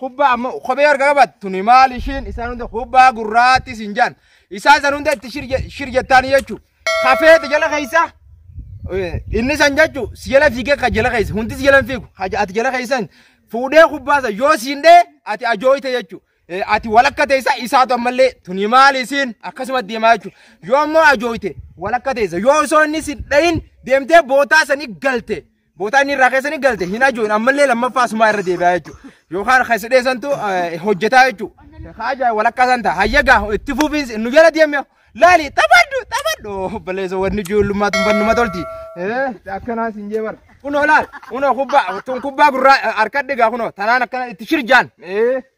Kubbaa amma kophee harka qabatte tuni maal ishiin isaan hunda kubbaa gurraatti isin jaan isaan san hunda itti shir je- shir jettaan jechuu kafeeti jala keessa eh, inni san jechuu si jala fiigee ka jala keessa hundi si jala fiigu Haja- ati jala keessan fuudhee kubbaa san yoo siin dhee ati ajooyte jechuu Eh, ati walakka teessa isaatu ammallee tuni maal isiin akkasuma deemaa jechuu yoo ammoo ajooyte walakka teessa yoo osoo inni sin dhayin deemtee bootaa sanii galte Bootaa inni irraa keessanii galte hin ajoon ammallee lammaffaa asumaa irra deebi'aa jechuudha. Yookaan kan si dheessantu hojjetaa jechuudha. Haajaa walakkaa san ta'a. Hayyagaa itti fufiinsi nu jala deemee laali taphadhu taphadhu obboleessa wanni ijoollummaa tun bannuma tolti. Akkanaa sin jee bara. Kunoo laal kunoo kubbaa tun kubbaa gurraa harkadhi gaa kunoo tanaan akkana itti shirjaan.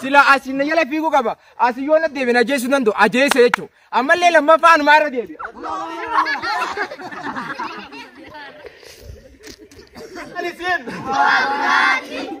sila asiin na jala fiiguu qaba asiin yoo na deebiin ajjeesuu danda'u ajjeese jechuun ammallee lammaffaa anumaa irra deebi'a. Ani siin.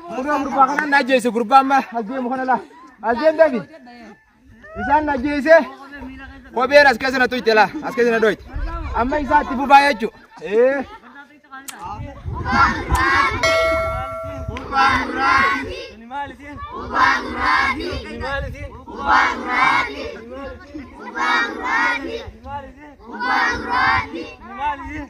Muudoo gurbaa kana na ajjeese gurbaa amma as deemu kana laa. As deem deebi. Isaan na ajjeese kopheen as keessa na tuyte laa as keessa na dhoyte. Amma isaa itti fufaa jechuudha. Ee. Maaliif?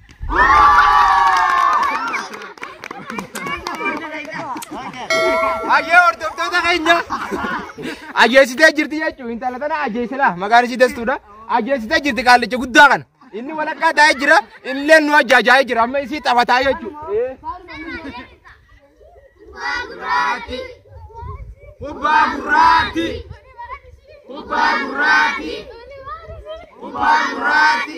Ayyee hordoftoota keenya. Ajjeesitee jirti jechuun intala tana ajjeesila maqaan ishii dastuudha. Ajjeesitee jirti qaallicha guddaa kana. Inni walakkaa taa'ee jira illee nu ajjaajaa'ee jira amma isii taphataa jechuudha. Kubbaa gurraatti. Kubbaa gurraatti. Kubbaa gurraatti.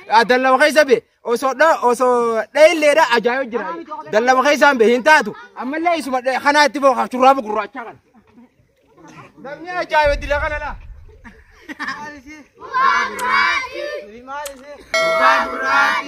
Dallama keessa be osoo dha osoo dheeyilleedha ajaa'oo jira. Dallama keessaan be hin taatu. Ammallee isuma dhe- kanaa itti booqa shurraaba gurraachaa kana. Namni ajaa'oo dila kana laa. Maal maal?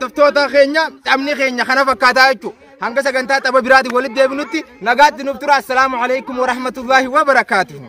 Hordoftoota keenya taphni keenya kana fakkaataa jechuudha. Hanga sagantaa tapha biraatiin walitti deebinutti nagaatti nuuf tura. Assalaamu alaikum wa rahmatullahi wa barakaatuhu.